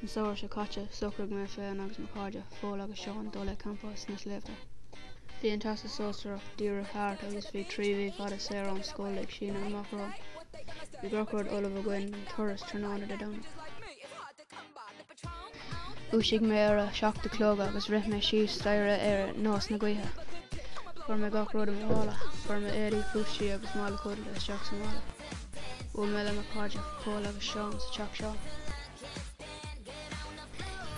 An samhradh seo caite, socraigh mé féin agus mo chairde, Pól agus Seán, dul ag campáil sna sléibhte. Bhí an Teastas Sóisearach díreach thart agus bhí trí mhí fada saor ón scoil ag síneadh amach romhainn. Bhí gach rud ullamh againn don turas tráthnóna Dé Domhnaigh. Dhúisigh mé ar a seacht a chlog agus rith mé síos staighre ar nós na gaoithe. Chuir mé gach rud i mo mhála. Chuir mé éadaí, tóirsí agus mála codlata isteach sa mhála. Bhuail mé le mo chairde Pól agus Seán sa teach seo.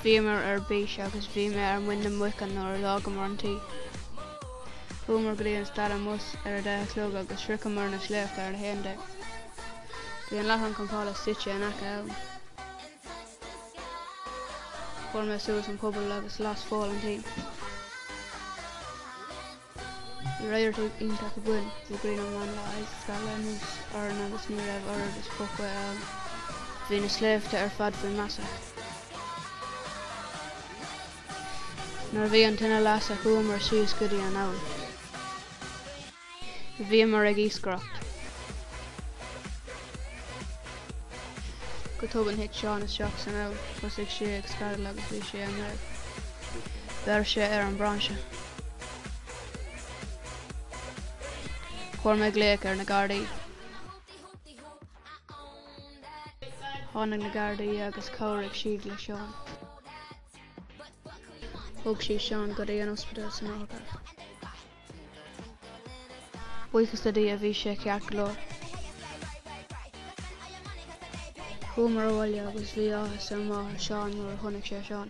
Bhíomar ar bís agus bhí mé ar muin na muice nuair a d'fhágamar an tigh. Chuamar go dtí an stad bus ar a deich a chlog agus shroicheamar na sléibhte ar a haon déag. Bhí an láithreán campála suite in aice abhann. Chuir mé suas an puball agus las Pól an tine. Bhí radharc tíre iontach ann. Bhí grian an lae ag scalladh anuas orainn agus ní raibh oiread is puth ann. Bhí na sléibhte ar fad faoi mhaise. Nuair a bhí an tine lasta chuamar síos go dtí an abhainn. Bhíomar ag iascaireacht. Go tobann thit Seán isteach san abhainn, thosaigh sé ag screadaíl agus bhí sé i mbaol. Bheir sé ar an brainse. Chuir mé glaoch ar na Gardaí. Tháinig na Gardaí agus chabhraigh siad le Seán. Thóg siad Seán go dtí an ospidéal san otharcharr. Buíochas le Dia, bhí sé ceart go leor. Chuamar abhaile agus bhí áthas ar mháthair Seán nuair a chonaic sí Seán.